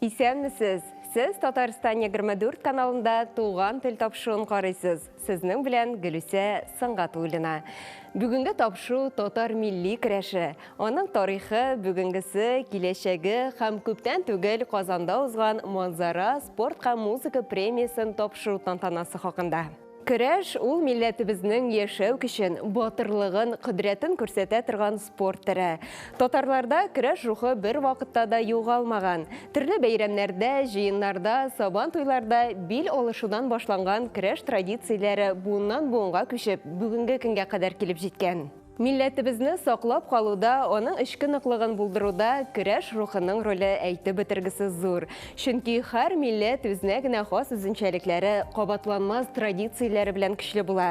Исәнмесез! Сез Татарстан егерме дүрт каналында Туган тел тапшыуын карыйсыз. Сезнең белән Гөлүсә Сангатуллина. Бүгенге тапшыу татар милли керәше, аның тарихы, бүгенгесе, киләчәге һәм күптән түгел Казанда узган Манзара спорт һәм музыка премиясен тапшыру тантанасы хакында. Көрәш, ул милләтебезнең яшәү көчен, батырлыгын, кодрәтен күрсәтә торган спорт төре. Татарларда көрәш рухы бер вакытта да югалмаган. Төрле бәйрәмнәрдә, җыеннарда, Сабан туйларда бил алышудан башланган көрәш традицияләре буыннан-буынга күчеп, бүгенге көнгә кадәр килеп җиткән. Милләтебезне саклап калуда, аның эчке ныклыгын булдыруда көрәш рухының роле әйтеп бетергесез зур. Чөнки һәр милләт үзенә генә хас үзенчәлекләре, кабатланмас традицияләре белән көчле була.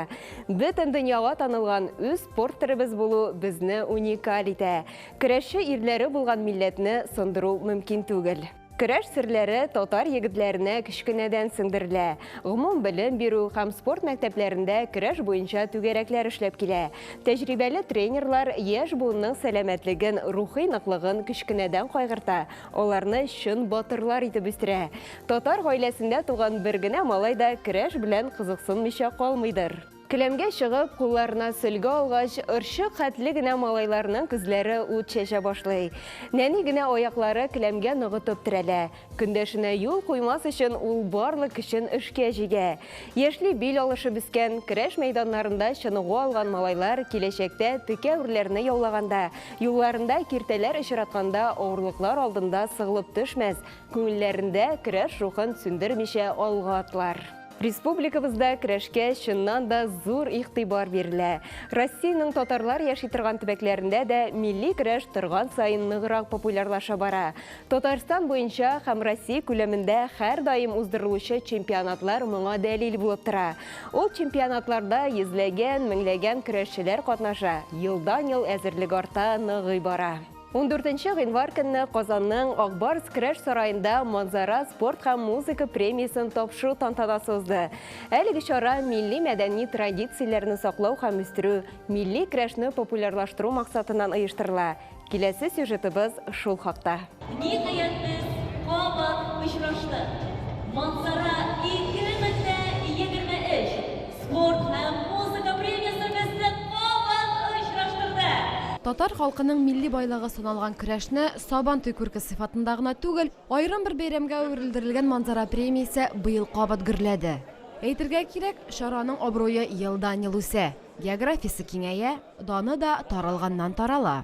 Бөтен дөньяга танылган үз спорт төребез булу безне уникаль итә. Көрәшче ирләре булган милләтне сындыру мөмкин түгел. Көрәш серләре татар егетләренә кечкенәдән сеңдерелә. Гомум белем бирү һәм спорт мәктәпләрендә көрәш буенча түгәрәкләр эшләп килә. Тәҗрибәле тренерлар яшь буынның сәламәтлеген, рухи ныклыгын кечкенәдән кайгырта, аларны чын батырлар итеп үстерә. Татар гаиләсендә туган бер генә малай да көрәш белән кызыксынмыйча калмыйдыр. Келәмгә чыгып, кулларына сөлге алгач, орчык хәтле генә малайларның күзләре ут чәчә башлый. Нәни генә аяклары келәмгә ныгытып терәлә. Көндәшенә юл куймас өчен ул барлык көчен эшкә җигә. Яшьли бил алышып үскән, көрәш мәйданнарында чыныгу алган малайлар киләчәктә текә үрләрне яулаганда, юлларында киртәләр очратканда авырлыклар алдында сыгылып төшмәс, күңелләрендә көрәш рухын сүндермичә алга атлар. Республикабызда керәшкә чыннан да зур игътибар бирелә. Россиянең татарлар яши торган төбәкләрендә дә милли көрәш торган саен ныграк популярлаша бара. Татарстан буенча һәм Россия күләмендә һәрдаим уздырылучы чемпионатлар моңа дәлил булып тора. Ул чемпионатларда йөзләгән, меңләгән көрәшчеләр катнаша, елдан-ел әзерлек арта, ныгый бара. Ундүртенче гыйнвар көнне Казанның Ак Барс керәш сараенда Манзара спорт һәм музыка премиясен тапшыру тантанасы узды. Әлеге чара милли-мәдәни традицияләрне саклау һәм үстерү, милли керәшне популярлаштыру максатыннан оештырыла. Киләсе сюжетыбыз шул хакта. Ниһаятбез кабат очраштык! Манзара 2023! Спорт һәм музыка премиясе безне кабат очраштырды. Татар халкының милли байлыгы саналган көрәшне Сабантуй күрке сыйфатында гына түгел, аерым бер бәйрәмгә әверелдерелгән Манзара премиясе быел кабат гөрләде. Әйтергә кирәк, чараның абруе елдан-ел үсә, географиясе киңәя, даны да таралганнан-тарала.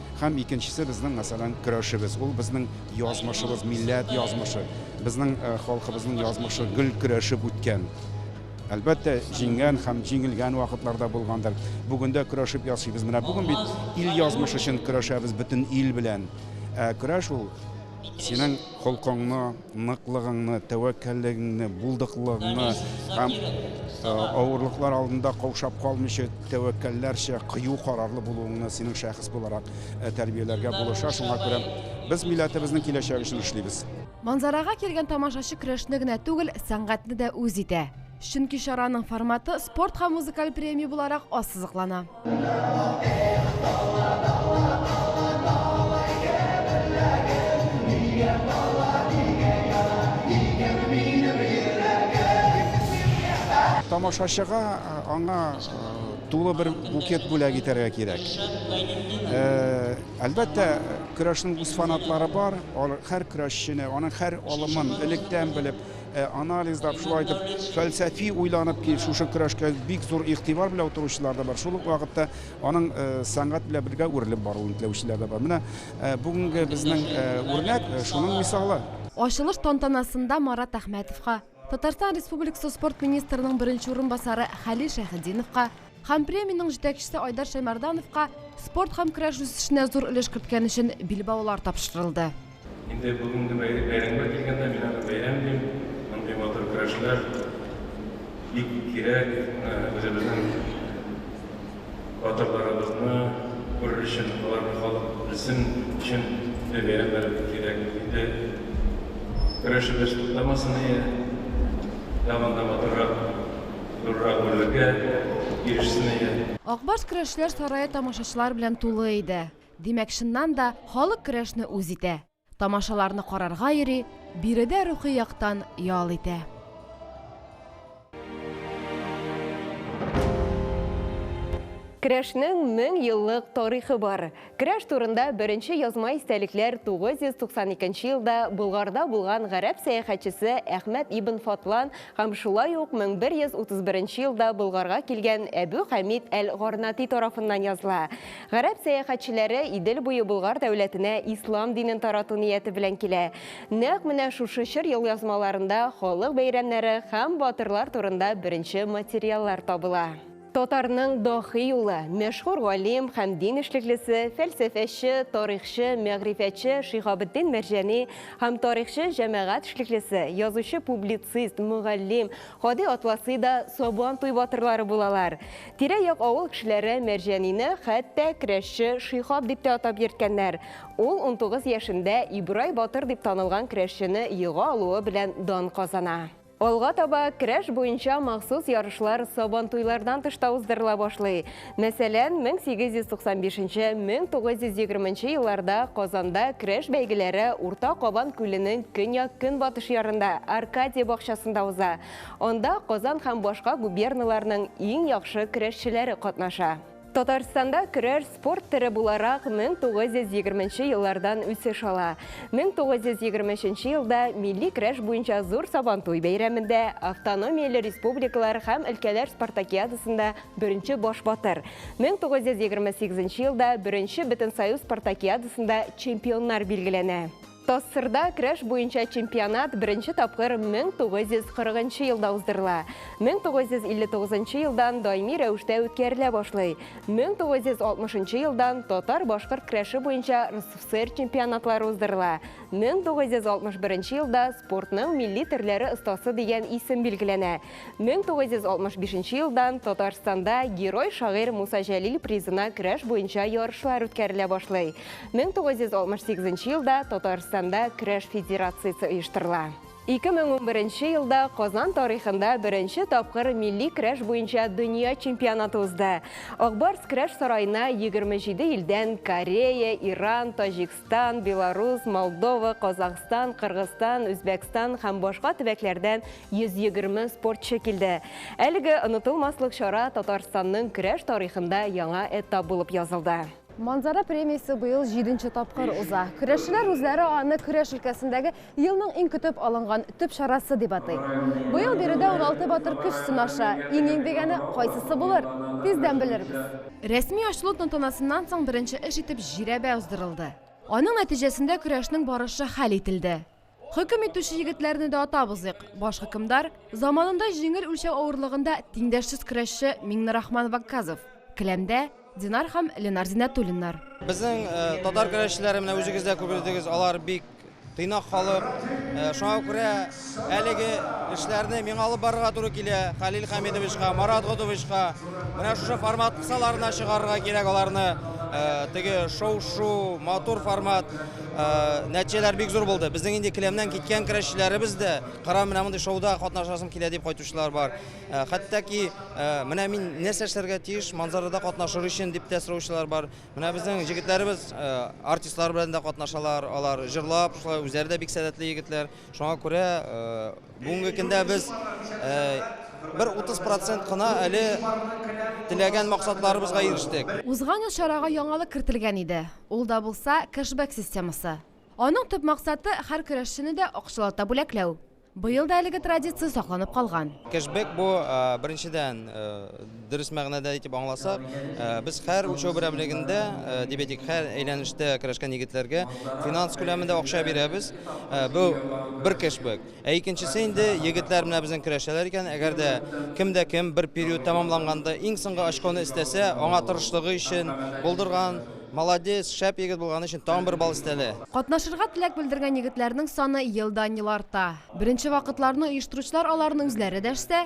Һәм икенчесе безнең, мәсәлән, көрәшебез. Ул безнең язмышыбыз, милләт язмышы. Безнең халкыбызның язмышы гел көрәшеп үткән. Әлбәттә, җиңгән һәм җиңелгән вакытлар да булгандыр. Бүген дә көрәшеп яшибез. Менә бүген бит ил язмышы өчен көрәшәбез бөтен ил белән. Ә көрәш ул Синең холкыңны, ныклыгыңны, тәвәккәллегеңне, булдыклыгыңны һәм э, авырлыклар алдында каушап калмыйча, тәвәккәлләрчә кыю карарлы булуыңны синең шәхес буларак э, тәрбияләргә булыша. Шуңа күрә без милләтебезнең киләчәге өчен эшлибез. Манзарага килгән тамашачы көрәшне генә түгел, сәнгатьне дә үз итә. Чөнки чараның форматы спорт һәм музыкаль премия буларак ассызыклана. Тамашачыга аңа тулы бер букет бүләк итәргә кирәк. Әлбәттә, көрәшнең үз фанатлары бар, һәр көрәшчене, аның һәр алымын электән белеп, Ә анализлап, шулай итеп, фәлсәфи уйланып ки, шушы көрәшкә бик зур игътибар белән утыручылар да бар. Шул ук вакытта аның э, сәнгать белән бергә үрелеп баруын теләүчеләр дә бар. Менә э, бүгенге безнең э, үрнәк шуның мисалы. Ачылыш тантанасында Марат Әхмәтовка, Татарстан Республикасы спорт министрының беренче урынбасары Хәлил Шәхединовка, Һәм премиянең җитәкчесе Айдар Шәймәрдановка спорт һәм көрәш үсешенә зур өлеш керткән өчен билбаулар тапшырылды. Инде бүгенге бәйрәмгә килгәндә, мин аны бәйрәм дим. Мондый матур көрәшләр бик кирәк. Үзебезнең батырларыбызны күрер өчен, аларны халык белсен өчен мондый бәйрәмнәр бик кирәк. Инде көрәшебез туктамасыные, тагын да матуррак. Зуррак бүләккә ирешсен иде. Ак Барс көрәшчеләр сарае тамашачылар белән тулы иде. Димәк, чыннан да, халык көрәшне үз итә. Тамашаларны карарга йөри, биредә рухи яктан ял итә. Көрәшнең мең еллык тарихы бар. Керәш турында беренче язма истәлекләр 992 елда Болгарда булган гарәп сәяхәтчесе Әхмәд ибн Фатлан һәм шулай ук 1131 елда Болгарга килгән Әбү Хәмид әл-Гарнати тарафыннан языла. Гарәп сәяхәтчеләре Идел буе Болгар дәүләтенә ислам динен тарату нияте белән килә. Нәкъ менә шушы чор елъязмаларында халык бәйрәмнәре һәм батырлар турында беренче материаллар табыла. Татарның дохи улы, мәшһүр галим һәм дин эшлеклесе, фәлсәфәче, тарихчы, мәгърифәтче Шиһабетдин Мәрҗани һәм тарихчы, җәмәгать эшлеклесе, язучы-публицист, мөгаллим Һади Атласи да Сабантуй батырлары булалар. Тирә-як авыл кешеләре Мәрҗанине хәтта Крәшче Шиһаб дип тә атап йөрткәннәр. Ул унтугыз яшендә Ибрай батыр дип танылган крәшчене ега алуы белән дан казана. Алга таба керәш буенча махсус ярышлар Сабантуйлардан тыш та уздырыла башлый. Мәсәлән, 1895-1920 елларда Казанда керәш бәйгеләре Урта Кабан күленең көньяк-көнбатыш ярында, Аркадия бакчасында уза. Анда Казан һәм башка губерналарның иң яхшы керәшчеләре катнаша. Татарстанда көрәш спорт төре буларак 1920 нче еллардан үсеш ала. 1923 нче елда милли көрәш буенча зур Сабантуй бәйрәмендә, автономияле республикалар һәм өлкәләр спартакиадасында беренче баш батыр, 1928 нче елда беренче Бөтенсоюз спартакиадасында чемпионнар билгеләнә. ТАССРда көрәш буенча чемпионат беренче тапкыр 1940 нчы елда уздырыла. 1959 нчы елдан даими рәвештә үткәрелә башлый. 1960 нчы елдан татар-башкорт көрәше буенча РСФСР чемпионатлары уздырыла. 1961 нче елда спортның милли төрләре остасы дигән исем билгеләнә. 1965 нче елдан Татарстанда Герой-шагыйрь Муса Җәлил призына көрәш буенча ярышлар үткәрелә башлый. 1968 нче елда Татарстанда көрәш федерациясе оештырыла. 2011 нче елда Казан тарихында беренче тапкыр милли көрәш буенча дөнья чемпионаты узды. Акбарс көрәш сараена 27 илдән, Корея, Иран, Таҗикстан, Беларусь, Молдова, Казахстан, Кыргызстан, Үзбәкстан һәм башка төбәкләрдән 120 спортчы килде. Әлеге онытылмаслык чара Татарстанның көрәш тарихында яңа этап булып язылды. Манзара премиясе быел җиденче тапкыр уза. Көрәшчеләр үзләре аны көрәш өлкәсендәге елның иң көтеп алынган төп чарасы дип атый. Быел биредә 16 батыр көч сынаша. Иң-иң дигәне кайсысы булыр? Тиздән белербез. Рәсми ачылу тантанасыннан соң беренче эш итеп җирәбә уздырылды. Аның нәтиҗәсендә көрәшнең барышы хәл ителде. Хөкем итүче егетләрне дә атап узыйк. Баш хөкемдар, заманында җиңел үлчәү авырлыгында тиңдәшсез көрәшче Миңнерахман Вакказов, келәмдә Динар һәм Ленар Зиннәтуллиннар. Безнең татар көрәшчеләре менә үзегез дә күрдегез, алар бик тыйнак халык. Шуңа күрә әлеге эшләрне миңа алып барырга туры килә, Хәлил Хәмидовичка, Марат Готовичка. Менә шушы формат кысаларына чыгарырга кирәк аларны. Теге шоу-шу, матур формат. Нәтиҗәләр бик зур булды. Безнең инде келәмнән киткән көрәшчеләребез дә, Кырам, менә мондый шоуда катнашасым килә, дип кайтучылар бар. Хәтта ки, менә мин нәрсә эшләргә тиеш манзарада катнашыр өчен, дип тә сораучылар бар. Менә безнең җегетләребез артистлар белән дә катнашалар, алар җырлап, шулай үзләре дә бик сәләтле егетләр. Шуңа күрә, Бүгенге көндә без бер 30 процент кына әле теләгән максатларыбызга ирештек. Узган ел чарага яңалык кертелгән иде, ул да булса, кэшбэк системасы. Аның төп максаты, һәр көрәшчене дә акчалата бүләкләү. Быел да әлеге традиция сакланып калган. Кэшбэк бу, беренчедән, Дөрес мәгънәдә итеп аңласак, без һәр үлчәү берәмлегендә дебетик һәр әйләнештә керәшкән егетләргә финанс күләмендә акча бирәбез. Бу бер кешбек. Ә икенчесе инде егетләр менә безнең керәшәләр икән, әгәр дә кем дә кем бер период тәмамланганда иң соңгы очконы эстәсә, аңа тырышлыгы өчен, булдырган, молодец, шәп егет булганы өчен тагын бер балл өстәлә. Катнашырга теләк белдергән егетләрнең саны елдан-ел арта. Беренче вакытларны оештыручылар аларны үзләре дәшсә,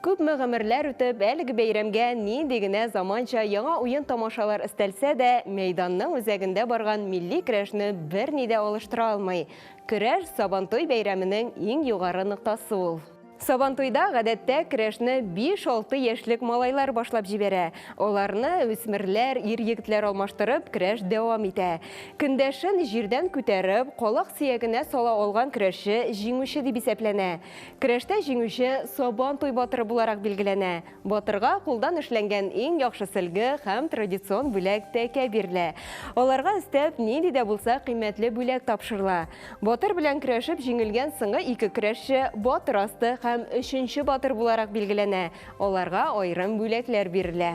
Күпме гомерләр үтеп, әлеге бәйрәмгә нинди генә заманча яңа уен-тамашалар өстәлсә дә, мәйданның үзәгендә барган милли көрәшне берни дә алыштыра алмый. Көрәш, Сабантуй бәйрәменең иң югары ноктасы ул. Сабантуйда, гадәттә, көрәшне биш-алты яшьлек малайлар башлап җибәрә. Аларны үсмерләр, ир-егетләр алмаштырып, көрәш дәвам итә. Көндәшен җирдән күтәреп, калак сөягенә сала алган көрәшче җиңүче дип исәпләнә. Көрәштә җиңүче Сабан туй батыры буларак билгеләнә. Батырга кулдан эшләнгән иң яхшы сөлге һәм традицион бүләк тәкә бирелә. Аларга өстәп, нинди дә булса кыйммәтле бүләк тапшырыла. Батыр белән көрәшеп җиңелгән соңгы ике көрәшче батыр асты һәм өченче батыр буларак билгеләнә, аларга аерым бүләкләр бирелә.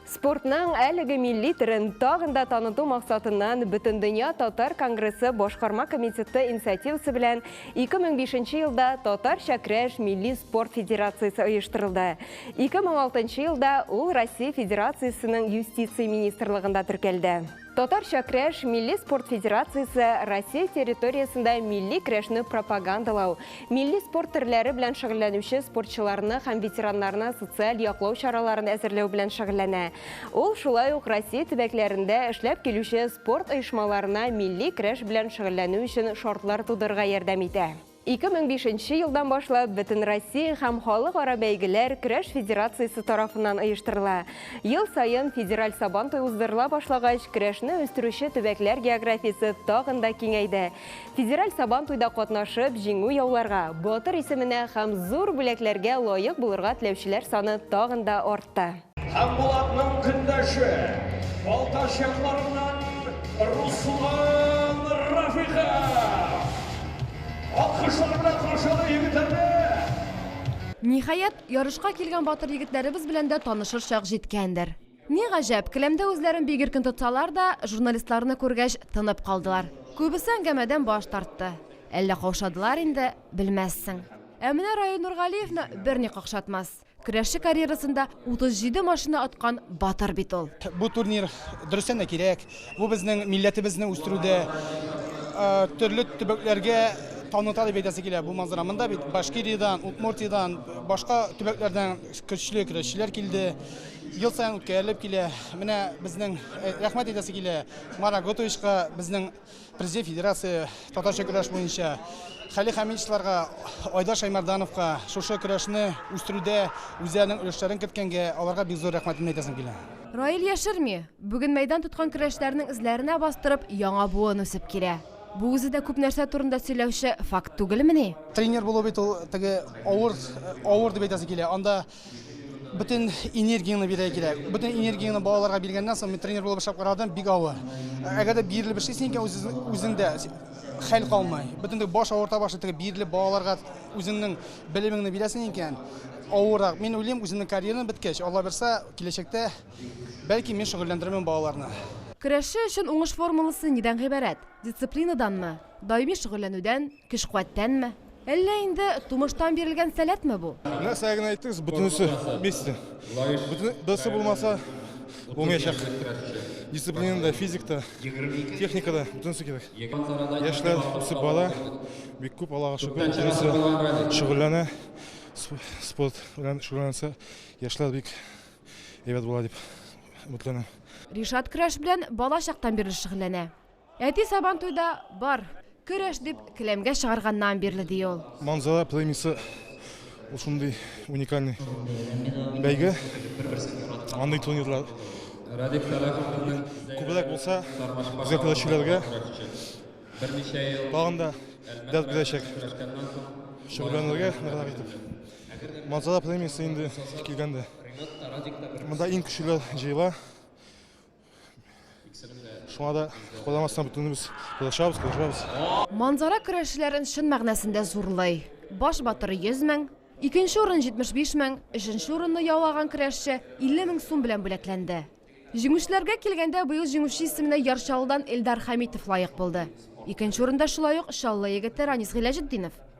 Спортның әлеге милли төрен тагын да таныту максатыннан Бөтендөнья татар конгрессы башкарма комитеты инициативасы белән 2005 елда Татарча көрәш милли спорт федерациясе оештырылды. 2006 елда ул Россия Федерациясенең юстиция министрлыгында теркәлде. Татарча крәш милли спорт федерациясе Россия территориясендә милли крәшне пропагандалау, милли спорт төрләре белән шөгыльләнүче спортчыларны һәм ветераннарны социаль яклау чараларын әзерләү белән шөгыльләнә. Ул шулай ук Россия төбәкләрендә эшләп килүче спорт оешмаларына милли крәш белән шөгыльләнү өчен шартлар тудырырга ярдәм итә. 2005 нче елдан башлап Бөтенроссия һәм халыкара бәйгеләр көрәш федерациясе тарафыннан оештырыла. Ел саен федераль Сабантуй уздырыла башлагач, көрәшне үстерүче төбәкләр географиясе тагын да киңәйде. Федераль Сабантуйда катнашып, җиңү яуларга, батыр исеменә һәм зур бүләкләргә лаек булырга теләүчеләр саны тагын да артты. Һәм Булатның көндәше, Балтач якларыннан Руслан Рафиков! Алкышлар белән каршылый егетләрне! Ниһаять, ярышка килгән батыр егетләребез белән дә танышыр чак җиткәндер. Ни гаҗәп, келәмдә үзләрен бик иркен тотсалар да, журналистларны күргәч, тынып калдылар. Күбесе әңгәмәдән баш тартты. Әллә каушадылар инде, белмәссең. Ә менә Раил Нургалиевны берни какшатмас. Көрәшче карьерасында 37 машина откан батыр бит ул. Бу турнир дөрестән дә кирәк. Бу безнең милләтебезне үстерүдә төрле төбәкләргә таныта дип әйтәсе килә бу манзара. Монда бит Башкириядән, Удмуртиядән, башка төбәкләрдән көчле көрәшчеләр килде. Ел саен үткәрелеп килә. Менә безнең рәхмәт әйтәсе килә Марат Готовичка, безнең Президент федерация татарча көрәш буенча Хәли Хәмидовларга, Айдар Шаймардановка шушы көрәшне үстерүдә үзләренең өлешләрен керткәнгә аларга бик зур рәхмәтемне әйтәсем килә. Раил яшерми, бүген мәйдан тоткан көрәшләрнең эзләренә бастырып, яңа буын үсеп килә. Бу үзе дә күп нәрсә турында сөйләүче факт түгелмени? Тренер булу бит ул теге авыр, авыр дип әйтәсе килә. Анда Бөтен энергияне бирә кирәк. Бөтен энергияне балаларга биргәннән соң мин тренер булып эшләп карадым, бик авыр. Әгәр дә бирелеп эшлисең икән үзеңдә хәл калмый. Бөтенлек баш авырта башлый, теге бирелеп балаларга үзеңнең белемеңне бирәсең икән, авырак. Мин уйлыйм, үземнең карьерам беткәч, Алла бирса, киләчәктә бәлки мин шөгыльләндерермен балаларны. Көрәшче өчен уңыш формуласы нидән гыйбарәт? Дисциплинаданмы? Даими шөгыльләнүдән? Көч-куәттәнме? Әллә инде тумыштан бирелгән сәләтме бу? Нәрсә генә әйтегез, бөтенесе вместе. Берсе булмаса, булмаячак. Дисциплина да, физик та, техника да, бөтенесе кирәк. Яшьләр үсеп бара, бик күп, Аллага шөкер, бөтенесе шөгыльләнә. Спорт белән шөгыльләнсә, яшьләр бик әйбәт була дип өметләнәм. Ришат көрәш белән бала чактан бирле шөгыльләнә. Әти Сабантуйда бар, көрәш дип келәмгә чыгарганнан бирле, ди ул. Манзала племисы ул шундый уникальный бәйге. Андый турнирлар күбрәк булса, безгә көрәшчеләргә тагын да дәрт бирәчәк. Шөгыльләнергә ныграк итеп. Манзала племисы инде килгәндә, монда иң көчлеләр җыела. Шуңа да куламастан бөтенебез кулашабыз, кулашабыз. Манзара көрәшчеләрен чын мәгънәсендә зурлый. Баш батыры 100 мең, икенче урын 75 мең, өченче урынны яулаган көрәшче 50 мең сум белән бүләкләнде. Җиңүчеләргә килгәндә, быел җиңүче исеменә Яр Чаллыдан Эльдар Хәмитов лаек булды. Икенче урында шулай ук Чаллы егете Ранис Гыйләҗетдинов.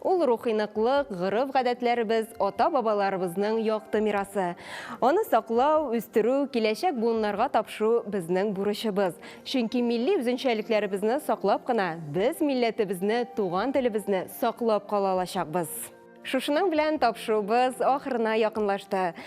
Ул рухи ныклык, гореф-гадәтләребез, ата-бабаларыбызның якты мирасы. Аны саклау, үстерү, киләчәк буыннарга тапшыру безнең бурычыбыз. Чөнки милли үзенчәлекләребезне саклап кына, без милләтебезне, туган телебезне саклап кала алачакбыз. Шушының белән тапшыруыбыз ахырына якынлашты.